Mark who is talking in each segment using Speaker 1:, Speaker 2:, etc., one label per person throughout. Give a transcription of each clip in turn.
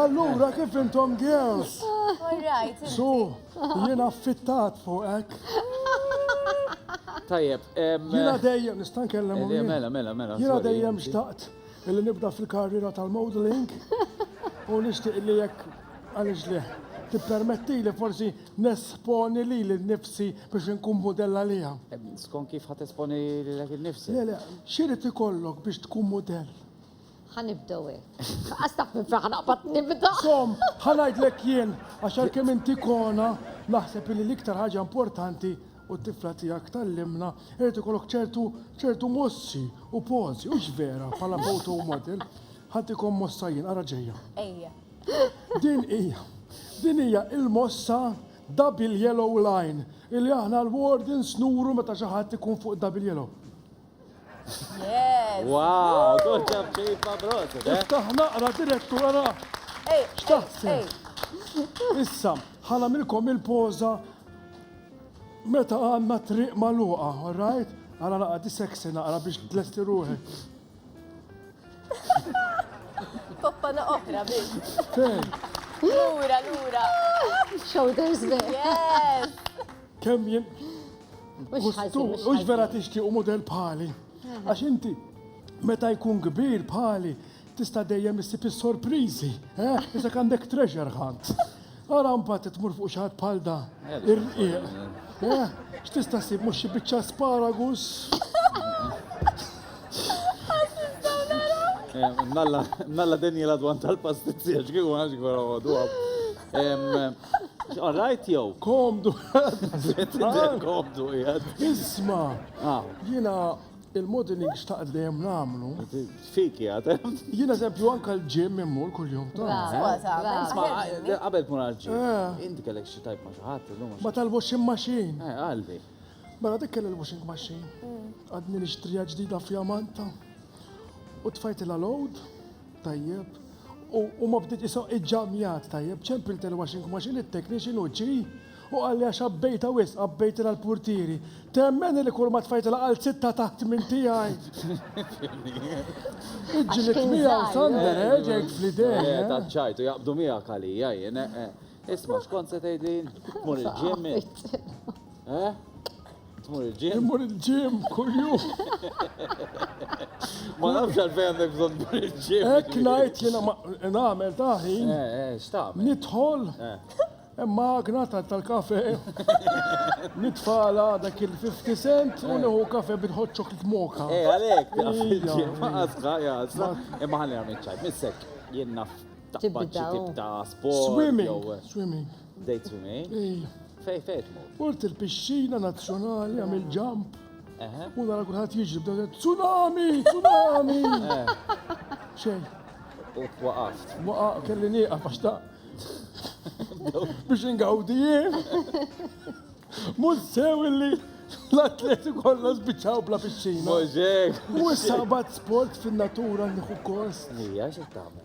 Speaker 1: Allura kif
Speaker 2: intom girls?
Speaker 3: Su,
Speaker 2: jiena affittat fuqek.
Speaker 1: Tajjeb. Jiena dejjem
Speaker 2: nista' nkellem. Eh, mela, mela, mela. Jiena dejjem
Speaker 1: xtaqt
Speaker 2: illi nibda fil-karriera tal-modeling u nixtieq li jekk għaliex li tippermetti li forsi nesponi li l-nifsi biex nkun modella li għam. Skon kif ħat
Speaker 1: esponi li l-nifsi? Le, le, xirrit
Speaker 2: ikollok biex tkun modell? Ħa nibdew
Speaker 4: hekk. Qas taf minn fejn ħanaqbad nibda. Som, ħa
Speaker 2: ngħidlek jien għax għalkemm inti kona, naħseb li l-iktar ħaġa importanti u t-tifla tiegħek tgħallimna irid ikollok ċertu ċertu mossi u pożi, hux vera bħala photo model. Ħantikom mossa jien, ara ġejja. Ejja.
Speaker 3: Din hija,
Speaker 2: din hija il-mossa double yellow line illi aħna l-wardens nuru meta xi ħadd ikun fuq double yellow. Yes!
Speaker 3: Wow, good job,
Speaker 1: Chief Abrot. Iftaħ naqra
Speaker 2: direttura. Ej, xtaħseb? Issa, ħana milkom il-poza meta għanna triq maluqa, alright? Għana naqra di sexy naqra biex tlesti ruħi.
Speaker 3: Poppana oħra biex. Lura, lura.
Speaker 4: Shoulders biex. Yes!
Speaker 3: Kemm jien.
Speaker 4: Ux vera tixtieq u
Speaker 2: model bħali. Għax inti meta jkun kbir bħali tista' dejjem issib is-sorpriżi. Isek għandek treasure hunt. Ara mbagħad tmur fuq xi ħadd bħal da. Irqiq. X'tista' ssib mhux xi biċċa asparagus?
Speaker 1: Malla Daniela dwan tal-pastizzi għax kieku għax għara għadu All right jew? Komdu. Komdu jgħad. Isma,
Speaker 2: ah. jina il-modeling xtaqt dejjem namlu. Fik jgħad.
Speaker 1: Jina eżempju anka
Speaker 2: l-ġim immur kull-jum. Għabel
Speaker 1: kun għal-ġim. Eh. Inti kellek xi tajb ma xaħat. Ma tal-washing
Speaker 2: machine. Eh, għalli.
Speaker 1: Mela dik kelli
Speaker 2: l-washing machine. Mm. Għadni nixtrija ġdida fjamanta. U tfajt il-load. Tajjeb. U, u ma bdiet iso iġġamjat tajjeb, ċempilt il-washing machine it-technician u ġi u qalli għax qabbejta wisq, qabbejtilha l-purtieri. Temmeni li kull ma tfajtilha qal zitta taħt minn tiegħi. Iġġlidt miegħu Sander, eh, ġejt fl-idejn. Eh, eh. taċċajt u jaqbdu
Speaker 1: miegħek għalija jien, eh, eh. Isma' xkont se tgħidli mur il-ġim. Eh? Tmur il-ġim? Tmur il-ġim
Speaker 2: kuljum.
Speaker 1: Ma nafx għalfejn għandek bżonn tmur il-ġim. Hekk ngħid jiena
Speaker 2: nagħmel taħi. Eh, eh, x'tagħmel?
Speaker 1: Nidħol.
Speaker 2: Imma eh. magna tal-kafe. Nitfala dak il-50 cent u neħu kafe bil-hot chocolate moka. Eh, għalhekk,
Speaker 1: ma għasqa, jgħasqa. Imma ħalli għamil ċajt, missek, jien naf tibda tibda sport. Swimming. Swimming.
Speaker 2: Bdejt f'mi?
Speaker 1: Ija. Fej fej tmur? Mort il-pixxina
Speaker 2: nazzjonali għam il-ġamp. U nara kulħadd jiġri bdew tsunami, tsunami. Eh. Xejn. U
Speaker 1: waqaft. Waqaf kelli nieqaf
Speaker 2: għax ta' biex ingawdi jien. Mhux sew illi l-atleti kollha spiċċaw bla pixxina. Możek. U
Speaker 1: sabat
Speaker 2: sport fin-natura nieħu kost. Ija xi tagħmel?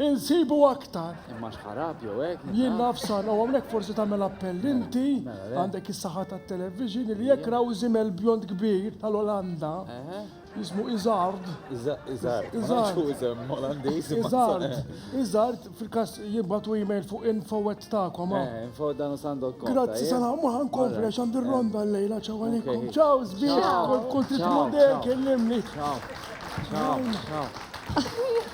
Speaker 2: Insibu aktar. Imma xħarab jew
Speaker 1: hekk. Jien naf sar u hawnhekk
Speaker 2: forsi tagħmel appell mela, inti mela, mela. għandek is-saħħa tat-television li jekk raw żimel bjond kbir tal-Olanda jismu Iżard. Iżard. Iżard. Iżard. Iżard fil-kas jibbatu email fuq infowet ta'kom. Ah. Eh, info dan sandok.
Speaker 1: Grazzi sana, ma
Speaker 2: ħankompli għax għandi ronda l-lejla ċaw għalikum. Ċaw, zbieħ, kont trid model kellimni. Ċaw. Ċaw.
Speaker 1: Ċaw.